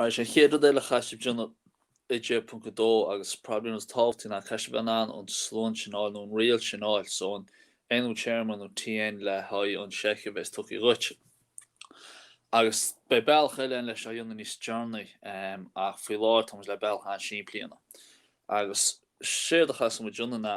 Arís an chéad rud eile a chaithfeas sibh a dhéanamh i 10.2 agus probably an rud is tábhachtaí ná caithfidh sibh a bheith in ann an slonn sin a fháil nó an riail sin a fháil so an nú téarma nó TN le haghaidh an seicheamh a bheas tugtha dhuit. Agus beidh bealach eile ann leis a dhéanamh níos deireanaí um, ach faoi láthair tá muid le bealach an-simplí a dhéanamh. Agus séard a chaithfeas muid a dhéanamh ná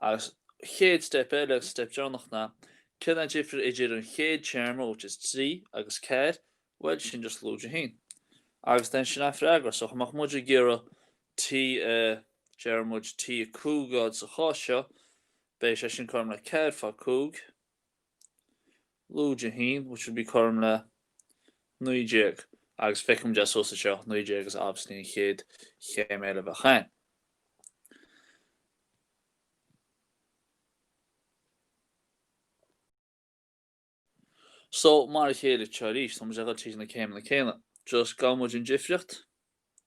Agus an chéad steip eile, an steip deireanach ná, céard an difir idir an chéad téarma, which is trí, agus ceathair? Bhuel, sin just lúide a haon. Agus then sin an freagra. So, dhá mbeadh muid ag iarraidh T, deir muid T5 a fháil sa chás seo, beidh sé sin cothrom le ceathair fá cúig. Lúide 1, which would be cothrom le naoi déag, agus feiceann muid thuas anseo, naoi déag is obviously an chéad chéim eile a bheadh ann. So, mar a chéile seo arís, tá muid ag dul tríd na céimeanna céanna, just gabhann muid an difríocht.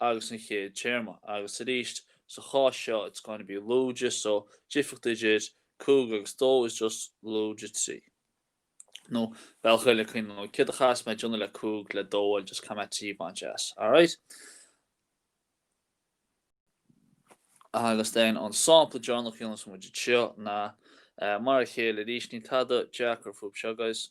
agus an chéad téarma, agus arís, sa chás seo, it's going to be lúide, so difríocht idir cúig agus dó is just lúide trí. Nó, bealach eile le cuimhneamh ná, céard a chaithfeas mé a dhéanamh le cúig, le dó a fháil, just caithfidh mé trí a bhaint as. Alright? Agus then, an sampla deireanach a dhéanfas muid anseo ná, mar a chéile arís, níl tada deacair fúthu seo, guys.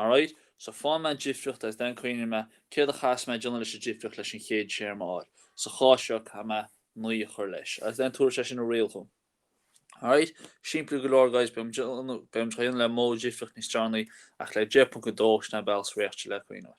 Alright, so faigheann mé an difríocht agus then cuimhníonn mé céard a chaithfeas mé a dhéanamh leis an difríocht leis an chéad téarma a fháil. Sa chás seo, caithfidh mé naoi a chur leis. Agus then tabharfaidh sé sin an riail dhom. Alright, simplí go leor guys, beidh muid á dhéanamh le modh difríocht níos deireanaí ach le 10.2 sin an bealach is réachta le cuimhneamh.